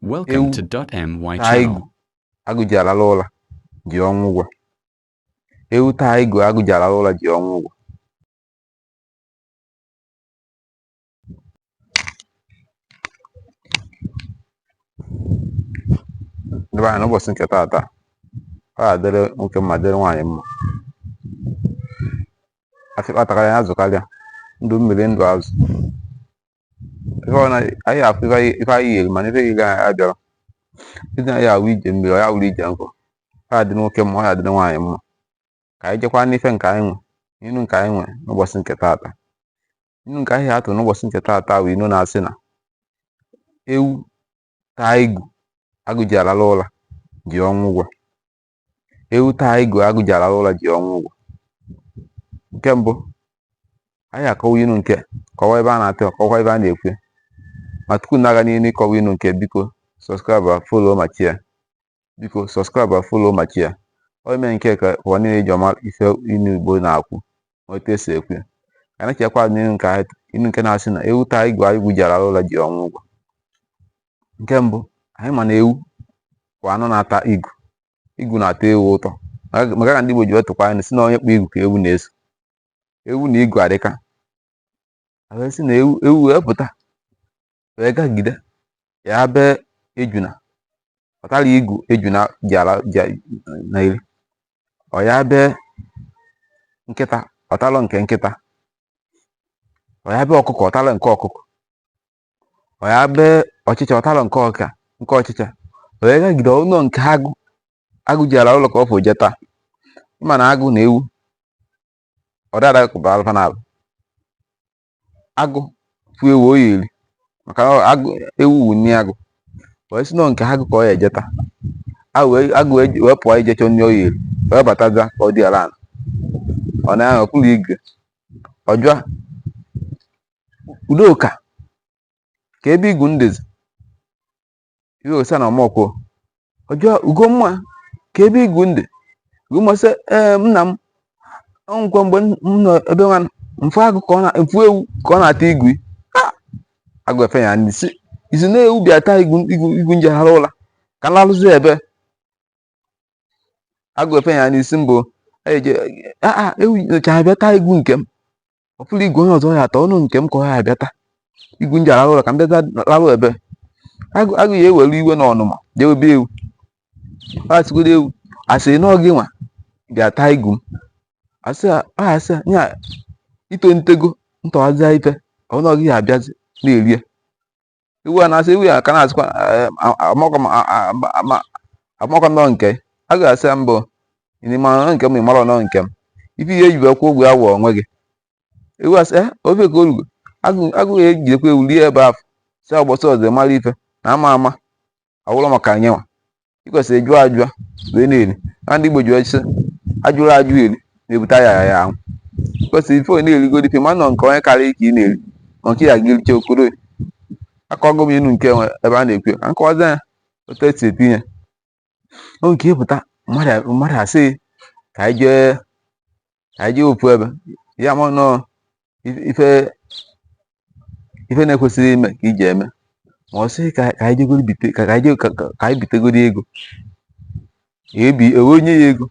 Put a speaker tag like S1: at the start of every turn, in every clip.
S1: Welcome to my
S2: channel. Agụ
S1: ji
S2: alalụ ụla ji ọnwụ ụgwọ. Ewu taa igu agụ ji alalụ ụla ji ọnwụ ụgwọ. Ndị be anyị n'ụbọchị nke taata, ọ ga-adịrị nwoke mma dịrị nwaanyị mma. Afịkpa takarịa ya zụkarịa, ndụ mmiri ndụ azụ. ife ọ na anyị ya-afụ ife anyị- ife anyị ya-eli mana ife ya-eli anyị abịala ije anyị ya-awụ ije mmiri ọ ya wụrụ ije nkụ ọ ya-adị nwoke mma ọ ya-adị nwaanyị mma ka anyị jekwa n'ife nke anyị nwe inu nke anyị nwe n'ụbọchị nke taata inu nke anyị ya-atụ n'ụbọchị nke taata bụ inu na-asị na ewu taa igu agụ ji alalụ ụla ji ọnwụ ụgwọ ewu taa igu agụ ji alalụ ụla ji ọnwụ ụgwọ nke mbụ anyị akọwa inu nke kọwa ebe a na-atụ kọwa ebe a na-ekwu ya ma tupu na-aga n'ihu ịkọwa inu nke biko subscribe follow ma share biko subscribe follow ma share ọ ime nke ka ụwa niile ji ama ife inu igbo na-ekwu ma otu e si ekwu ya ka anyị jekwa n'inu nke inu nke na-asị na ewu taa igu agụ ji alalụ ụla ji ọnwụ ụgwọ nke mbụ anyị ma na ewu wụ anụ na-ata igu igu na-atọ ewu ụtọ maka ya ka ndị Igbo ji wee tụkwa inu sị na onye kpụ igu ka ewu na-eso ewu na igu adịka a wee sị na ewu ewu wee pụta wee gagide ya be ejuna ọ talụ igu ejuna ji ala na iri ọ ya be nkịta ọ talụ nke nkịta ọ ya be ọkụkọ ọ talụ nke ọkụkọ ọ ya be ọchịcha ọ talụ nke ọchịcha ọ ya gagide ọ nụ nke agụ agụ ji alalụ ụla ka ọ fụ je taa ị ma na agụ na ewu ọ da adakọbalụ fa naabọ agụ fụ ewu ọ ya-eli maka na agụ ewu wụ nni agụ wee sị na ọ nke agụ ka ọ ya-eje taa agụ wee- agụ wee wee pụọ ije chọọ nni ọ ya-eli wee bataza ka o dina ala ọ na-ahụ ọkụlụ igu ya ọ jụa udoka ka ebe igu m dịzi ihe ọ sa na ọ makwọ ọ jụọ ugomma ka ebe igu m dị ugomma sị ee nna m ọ wụkwa mgbe m nọ ebe nwa m fụ agụ ka ọ na m fụ ewu ka ọ na-ata igu ị agụ efe ya n'isi ị sị na ewu bịa taa igu igu igu m ji alalụ ụla ka m lalụzi ebe agụ efe ya n'isi mbụ eje aa ewu nyocha bịa taa igu nke m ọ fụrọ igu onye ọzọ ọ ya-ata ọ nụ nke m ka ọ ya-abịa taa igu m ji alalụ ụla ka m bịa lalụ ebe agụ ya ewere iwe na ọnụma jewe be ewu asịgodo ewu a sị na ọ gị nwa bịa taa igu m asị asị ya ito ntego ntọwazịa ife ọnụ ọ gị ya-abịazi na-erie ewu a na-asị ewu ya ka na-asịkwa eh, amakwa nọ nke a ga-asị ya mbụ ịnịma nọ nke m ịmara nọ nke m ife ihe ejibe kwụ ụgwọ awụ onwe gị ewu asị eh, ofe ka orugo agụ ya ejidekwa ewu rie ebe afọ si ụbọsị ọzọ mara ife na ama ama ọ wụrụ maka ya nwa ị kwesịrị jụọ ajụọ wee na-eri na ndị igbo ji sị ajụrọ ajụ eri na-ebute ọya ahụ ị kwesịrị ife na-erigodi ife ma nọ nke onye karịa ka ị na-eri ma nke ya gịricha okoro akọgo m inu nke nwe ebe a na-ekwu ka nkọwazi ya otu esi etinye ya o nke ịpụta mmadụ asị ka anyị jee anyị jee ofu ebe ya ma nọ ife ife na-ekwesịrị ime ka iji eme ma ọ sị ka anyị jegoro bite ka anyị ka anyị bitegoro ego ebi ewee nye ya ego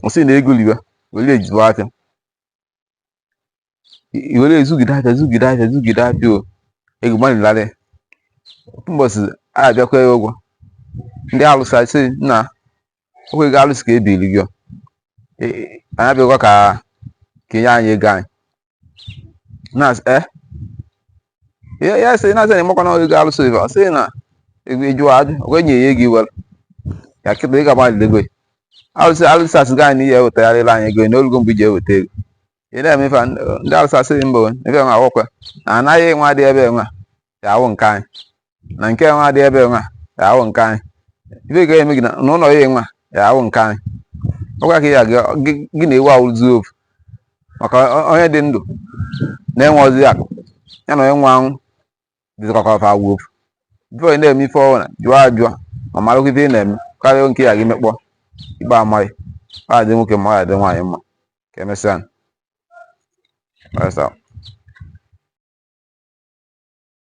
S2: ọ sị na ego riwa were eji zụọ afịa i were zụgide afịa zụgide afịa zụgide afịa o ego mmadụ larị ofu mbọsị a abịakwa ya ụgwọ ndị alụsị asị na ọkwa ego alụsị ka ebiri gị o. E- e- anyị abịakwa ka ka enye anyị ego anyị na-asị eh ya ya sị na-asị na ịmakwa na ego alụsị ife ọ sị na ego ịjụwa ajụ okwe nye ya ego iwere ya kịta ị ga-agbalị ego ya alụsị alụsị asị gị anyị na ihe ewetagharịla anyị ego na olugo mgbe iji eweta ego ị na-eme ife a, ndị ndị alụsị asị mba o ife nwa awụkwa na ana gị nwa dị ebe nwa, ya awụ nke anyị na nke nwa dị ebe nwa, ya awụ nke anyị ife ga eme gị na na ụlọ gị nwa, ya awụ nke anyị ọkwa ka ya gị- gị gị na ewu awụzi ofu maka o- onye dị ndụ na-enwerọzi akụ ya na onye nwụrụ anwụ dịzịkọkọ fa awụ ofu before ị na-eme ife ọwụna jụọ ajụọ ma marakwa ife ị na-eme karịa nke ya gị mekpọ ikpe ama gị ọ ga-adị nwoke mma ọ ga-adị nwaanyị mma ka emesịa That's all.